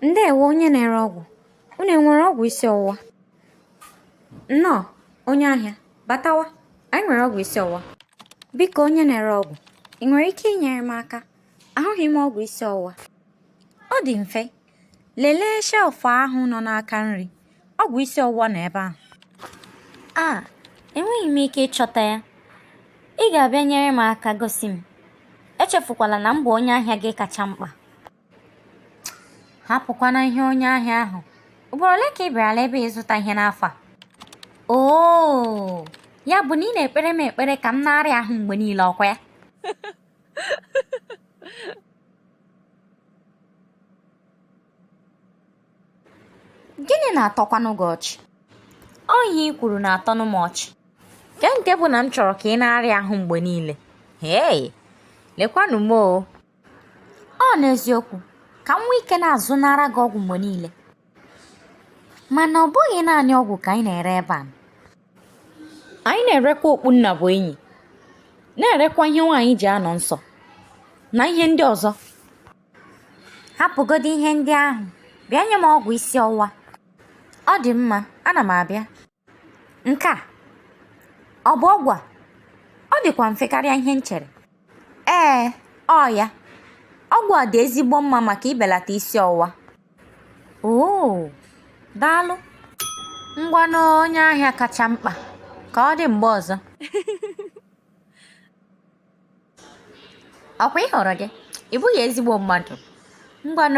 Ndeewo onye na-ere ọgwụ. Unu enwere ọgwụ isi ọwụwa? Nnọọ, onye ahịa, batawa. Anyị nwere ọgwụ isi ọwụwa. Biko onye na-ere ọgwụ, ị nwere ike inyere m aka? Ahụghị m ọgwụ isi ọwụwa. Ọ dị mfe. Lelee shelf ahụ nọ n'aka nri. Ọgwụ isi ọwụwa nọ ebe ahụ. A, enweghị m ike ịchọta ya. Ị ga-abịa nyere m aka gosi m. Echefukwala na m bụ onye ahịa gị kacha mkpa. hapụkwana ihe onye ahịa ahụ ugboro ole ka ị bịarala ebe a ịzụta ihe n'afọ a oo ya bụ na ị na-ekpere m ekpere ka m na-arịa ahụ mgbe niile ọkwa ya gịnị na-atọkwanụ gị ọchị ọ ihe i kwuru na-atọnụ m ọchị kee nke bụ na m chọrọ ka ị na-arịa ahụ mgbe niile hei lekwanụ m o ọ n'eziokwu ka m nwee ike na-azụnara gị ọgwụ mgbe niile mana ọ bụghị naanị ọgwụ ka anyị na-ere ebe a anyị na-erekwa okpu nnabuenyi na-erekwa ihe nwaanyị ji anọ nsọ na ihe ndị ọzọ hapụgodo ihe ndị ahụ bịa nye m ọgwụ isi ọwụwa ọ dị mma ana m abịa Nke a ọ bụ ọgwụ a? Ọ dịkwa mfe karịa ihe m chere. Ee, ọ ya. Ọgwụ a dị ezigbo mma maka ibelata isi ọwụwa. Oo, daalụ. Ngwanụ onye ahịa kacha mkpa. Ka ọ dị mgbe ọzọ. Ọkwa ị hụrụ gị? Ị bụghị ezigbo mmadụ. Ngwanụ.